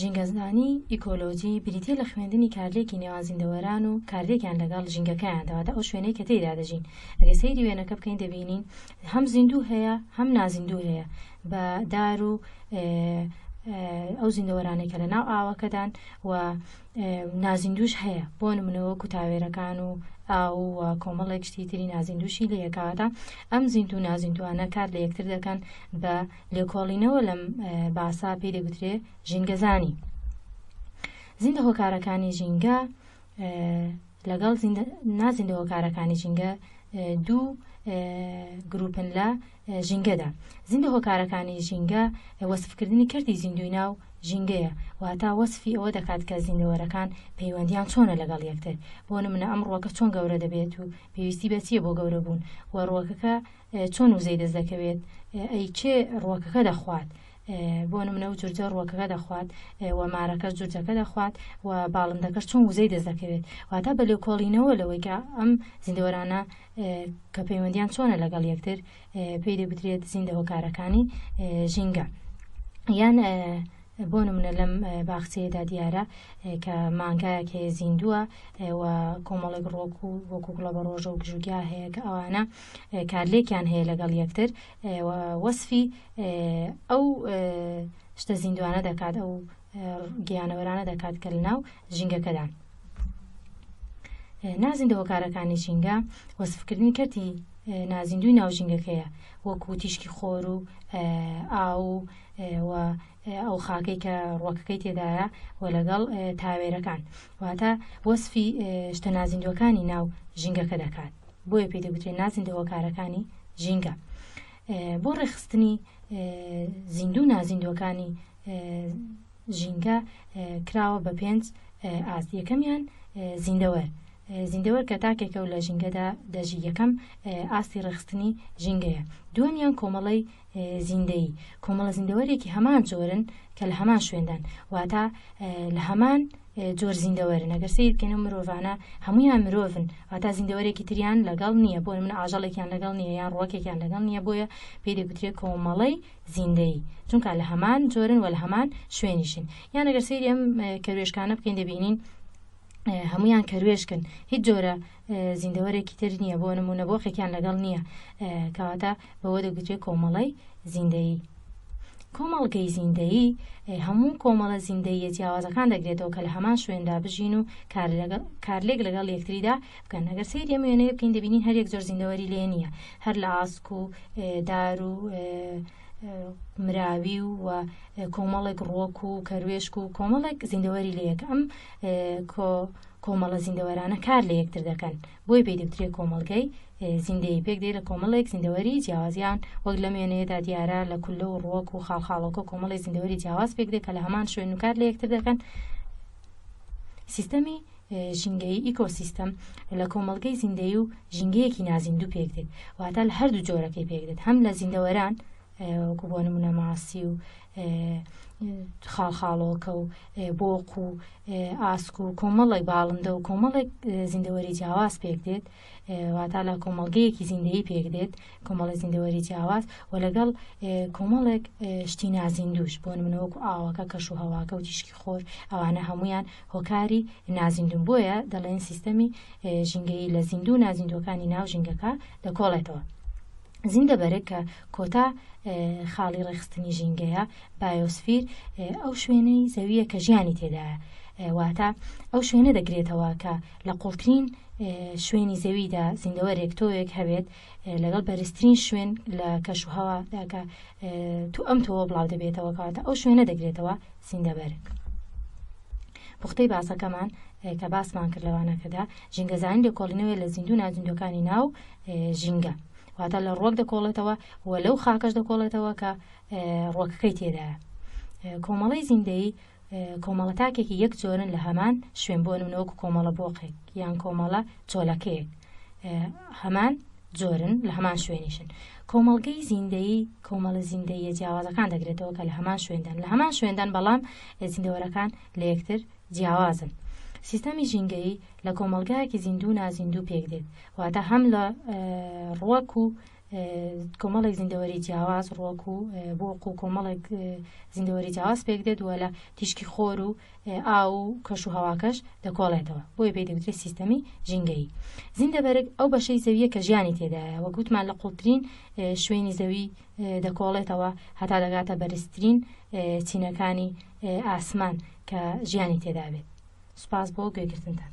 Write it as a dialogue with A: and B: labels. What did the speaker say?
A: ژینگەزانیی ئیکۆلۆجی بریتییە لە خوێندنی کارلێکی نێوان زیندەوەران و کارلێکیان لەگەڵ ژینگەکەیاندا، واتە ئەو شوێنەی کە تێیدا دەژین. ئەگەر سەیری وێنەکە بکەین دەبینین هەم زیندوو هەیە هەم نازیندوو هەیە بە دار و ئەو زیندەوەرانەی کە لەناو ئاوەکەدان و نازیندووش هەیە بۆ نموونە وەکوو تاوێرەکان و ئاو و کۆمەڵێک شتی تری نازیندووشی لێیە کەواتە ئەم زیندوو نازیندووانە کار لە یەکتر دەکەن بە لێکۆڵینەوە لەم باسە پێی دەگوترێ ژینگەزانی. زیندە هۆکارەکانی ژینگە لەگەڵ نازیندە هۆکارەکانی ژینگە دوو گروپن لە ژینگەدا زیندە هۆکارەکانی ژینگە وەسفکردنی کردی زیندوی ناو ژینگەیە واتا وەسفی ئەوە دەکات کە زیندەوەرەکان پەیوەندیان چۆنە لەگەڵ یەکتر بۆ منە ئەم ڕوەکە چۆن گەورە دەبێت و پێویستی بەچیە بۆ گەورە بوون و ڕوەکەکە چۆن وزەی دەست دەکەوێت؟ ئەی کێ ڕووەکەکە دەخوات؟ بۆ نمونە و جورجە ڕووەکەکە دەخوات و مارەکەش جورجەکە دەخوات و باڵندەکەش چۆن وزەی دەست دەکەوێت؟ واتە بە لێکۆڵینەوە لەوەی کە ئەم زیندەوەرانە کە پەیوەندیان چۆنە لەگەڵ یەکتر پێی دەگوترێت زیندە هۆکارەکانی ژینگە یان بۆ نمونە لەم باخچەیەدا دیارە کە مانگایەک هەیە زیندووە و کۆمەڵێک ڕۆک و وەکو گوڵە بە ڕۆژە و گژوگیا هەیە کە ئەوانە کارلێکیان هەیە لەگەڵ یەکتر و وەسفی ئەو شتە زیندوانە دەکات ئەو گیانەوەرانە دەکات کە لەناو ژینگەکەدان نازیندە هۆکارەکانی ژینگە وەسفکردنی کەرتی نازیندوی ناو ژینگەکەیە وەکو تیشکی خۆر و ئاو و ئەو خاکەی کە ڕوەکەکەی تێدایە و لەگەڵ تاوێرەکان واتە وەسفی شتە نازیندوەکانی ناو ژینگەکە دەکات بۆیە پێ دەگوترێت نازیندە هۆکارەکانی ژینگە بۆ ڕێخستنی زیندوو نازیندوەکانی ژینگە کراوە بە پێنج ئاست یەکەمیان زیندەوەر زیندەوەر کە تاکێکە و لە ژینگەدا دەژی یەکەم ئاستی ڕێخستنی ژینگەیە دووەمیان کۆمەڵی زیندەیی، کۆمەڵە زیندەوەرێکی هەمان جۆرن کە لە هەمان شوێندان، واتە لە هەمان جۆر زیندەوەرن، ئەگەر سەیر بکەین ئەو مرۆڤانە هەموویان مرۆڤن، واتە زیندەوەرێکی تریان لەگەڵ نییە، بۆ نموونە ئاژەڵێکیان لەگەڵ نییە یان ڕووەکێکیان لەگەڵ نییە، بۆیە پێی دەگوترێت کۆمەڵەی زیندەیی، چونکە لە هەمان جۆرن و لە هەمان شوێنیشن، یان ئەگەر سەیری ئەم کەروێشکانە بکەین دەبینین هەموویان کەروێشکن، هیچ جۆرە زیندەوەرێکی تر نییە، بۆ نموونە بۆقێکیان لەگەڵ نییە، کەواتە بەوە دەگوترێت کۆمەڵەی زیندەیی. کۆمەڵگەی زیندەیی هەموو کۆمەڵە زیندەییە جیاوازەکان دەگرێتەوە کە لە هەمان شوێندا بژین و کارلێک لەگەڵ یەکتریدا بکەن. ئەگەر سەیری ئەم وێنەیە بکەین دەبینین هەر یەک جۆر زیندەوەری لێ نییە، هەر لە ئاسک و دار و مراوی و کۆمەڵێک ڕووەک و کەروێشک و کۆمەڵێک زیندەوەری لێیە کە ئەم کۆمەڵە زیندەوەرانە کار لە یەکتر دەکەن بۆیە پێی دەوترێ کۆمەڵگەی زیندەیی پێک دێ لە کۆمەڵێک زیندەوەری جیاوازیان وەک لەم وێنەیەدا دیارە لە کولە و ڕوەک و خاڵخاڵۆکە کۆمەڵی زیندەوەری جیاواز پێک دێ کە لە هەمان شوێن و کار لە یەکتر دەکەن سیستەمی ژینگەی ئیکۆسیستەم لە کۆمەلگەی زیندەی و ژینگەیەکی نازیندوو پێک دێت واتە لە هەردوو جۆرەکەی پێک دێت هەم لە زیندەوەران وەکو بۆ نمونە ماسی و خاڵخاڵۆکە و بۆق و ئاسک و کۆمەڵێک باڵندە و کۆمەڵێک زیندەوەری جیاواز پێک دێت واتا لە کۆمەڵگەیەکی زیندەی پێک دێت کۆمەڵی زیندەوەری جیاواز و لەگەڵ کۆمەڵێک شتی نازیندوش بۆ منەوەکو ئاوەکە کەش و هەواکە و تیشکی خۆر ئەوانە هەمویان هۆکاری نازیندون بۆیە دەڵێن سیستەمی ژینگەی لە زیندوو نازیندوەکانی ناو ژینگەکە دەکۆڵێتەوە. زینگە بەرگ کە کۆتا خاڵی ڕێکخستنی ژینگەیە، بایۆسفیر، ئەو شوێنەی زەوییە کە ژیانی تێدایە، واتە ئەو شوێنە دەگرێتەوە کە لە قوڵترین شوێنی زەویدا زیندەوەرێک تۆوێک هەبێت لەگەڵ بەرزترین شوێن لە کەش و هەوادا کە تو ئەم تۆوە بڵاو دەبێتەوە کەواتە ئەو شوێنە دەگرێتەوە زیندەبەرگ. پوختەی باسەکەمان کە باسمان کرد لەوانەکەدا ژینگەزانی لێکۆڵینەوەی لە زیندوو نازیندوەکانی ناو ژینگە، واتە لە ڕوەک دەکۆڵێتەوە و لەو خاکەش دەکۆڵێتەوە کە ڕوەکەکەی تێدایە. کۆمەڵەی زیندەیی کۆمەڵە تاکێکی یەک جۆرن لە هەمان شوێن بۆ نمونەوەکو کۆمەڵە بۆقێک یان کۆمەڵە چۆلەکەیەک هەمان جۆرن لە هەمان شوێنیشن کۆمەڵگەی زیندەیی کۆمەڵە زیندەیە جیاوازەکان دەگرێتەوە کە لە هەمان شوێندان لە هەمان شوێندان بەڵام زیندەوەرەکان لە یەکتر جیاوازن سیستەمی ژینگەیی لە کۆمەڵگایەکی زیندوو و نازیندوو پێک دێت، واتە هەم لە ڕوەک و کۆمەڵێک زیندەوەری جیاواز ڕوەک و بۆق و کۆمەڵێک زیندەوەری جیاواز پێک دێت و لە تیشکی خۆر و ئاو و کەش و هەواکەش دەکۆڵێتەوە بۆیە پێی دەوترێت سیستەمی ژینگەیی زیندەبەرگ ئەو بەشەی زەویە کە ژیانی تێدایە وە گوتمان لە قوڵترین شوێنی زەوی دەکۆڵێتەوە هەتا دەگاتە بەرزترین چینەکانی ئاسمان کە ژیانی تێدابێت سوپاس بۆ گوێگرتنتان.